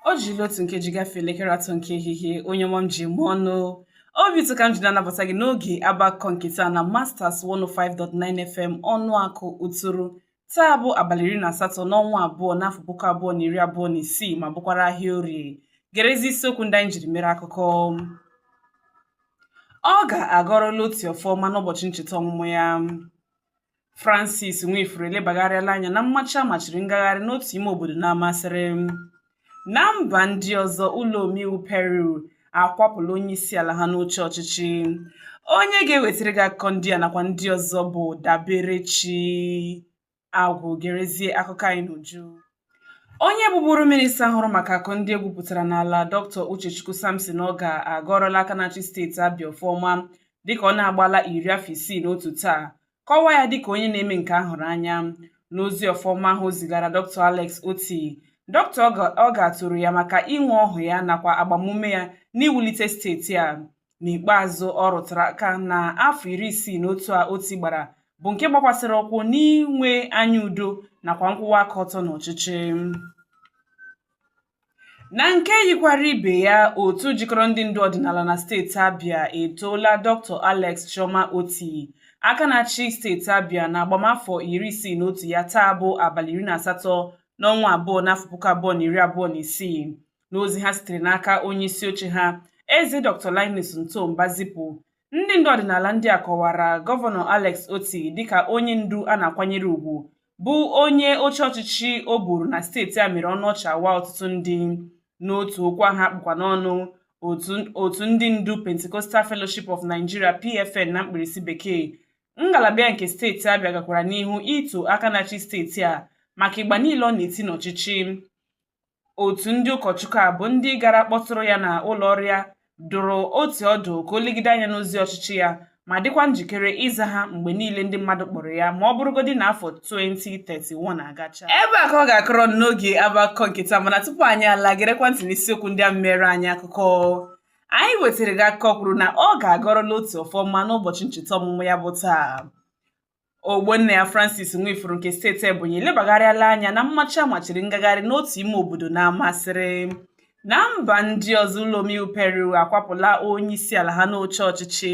o jiri otu nkeji gafee elekere atọ nke ehihie onye ọma m ji eme ọnụ obi ụtọ ka m ji na-anabata gị n'oge ọba akụkọ nke taa na masters 105.9 fm ọnụakụ uturu taa bụ abalị iri na asatọ n'ọnwa abụọ n'afọ puku abụọ na iri abụọ na isii ma bụkwara ahịa orie gerezi isiokwu ndị anyị jiri mere akụkọ ogah agọrọla otti ọfọ ọma n'ụbọchị ncheta ọmụmụ ya Francis Nwifuru elebagharịala anya na mmachi a machiri ngagharị n'otu ime obodo n'Amasiri na mba ndị ọzọ ụlọ omeiwu Peru akwapụla onye isi ala ha n'oche ọchịchị onye ga-ewetara gị akụkọ ndị a nakwa ndị ọzọ bụ Daberechi Agwụ gerezie akụkọ anyị n'uju Onye bụbụrụ minista hụrụ maka akụ ndị e gwupụtara n'ala Dr. Uchechukwu Sampson Ogah agọrọla aka na-achị steeti Abia ọfọ ọma dịka ọ na-agbala iri afọ isii na otu taa kọwaa ya dịka onye na-eme nke a hụrụ anya n'ozi ọfọ ọma ahụ o zigara Dr. Alex Otti Dr. Ogah toro ya maka inwe ọhụ ya nakwa agbamume ya n'iwulite steeti a n'ikpeazụ ọ rụtara aka na afọ iri isii na otu a otti gbara bụ nke gbakwasịrị ụkwụ n'inwe anya udo nakwa nkwụwa aka ọtọ n'ọchịchị na nke yikwara ibe ya otu jikọrọ ndị ndu ọdịnala na steeti abia etoola dr alex chioma otti aka na-achị steeti abia na agbamafọ iri isii na otu ya taa bụ abalị iri na asatọ n'ọnwa abụọ n'afọ puku abụọ na iri abụọ na isii n'ozi ha sitere n'aka onye isi oche ha eze Dr. Linus Nto Mbah zipụ ndị ndu ọdịnala ndị a kọwara gọvanọ Alex Otti dịka onye ndu a na-akwanyere ugwu bụ onye oche ọchịchị o buru na steeti a mere ọnụ ọchị waa ọtụtụ ndị n'otu okwu ahụ a kpụkwa n'ọnụ otu ndị ndu Pentecostal Fellowship of Nigeria PFN na mkpirisi bekee ngalaba nke steeti Abia gakwara n'ihu ito aka na-achị steeti a maka ịgba niile ọ na-eti n'ọchịchị otu ndị ụkọchukwu a bụ ndị gara kpọtụrụ ya na ụlọ ọrụ ya dụrụ otti ọdụ ka o legide anya n'ozi ọchịchị ya ma dịkwa njikere ịza ha mgbe niile ndị mmadụ kpọrọ ya ma ọ bụrụgodị na afọ 2031 agacha ebe a ka ọ ga-akọrọ n'oge ọba akụkọ nke taa mana tupu anyị alaa gerekwa ntị n'isiokwu ndị ahụ meere anyị akụkọ anyị wetara gị akụkọ kwuru na ogah agọrọla otti ọfọ ọma n'ụbọchị ncheta ọmụmụ ya bụ taa Ogbonnaya Francis Nwifuru nke steeti Ebonyi elebagharịala anya na mmachi a machiri ngagharị n'otu ime obodo n'Amasiri na mba ndị ọzọ ụlọ omeiwu Peru akwapụla onye isi ala ha n'oche ọchịchị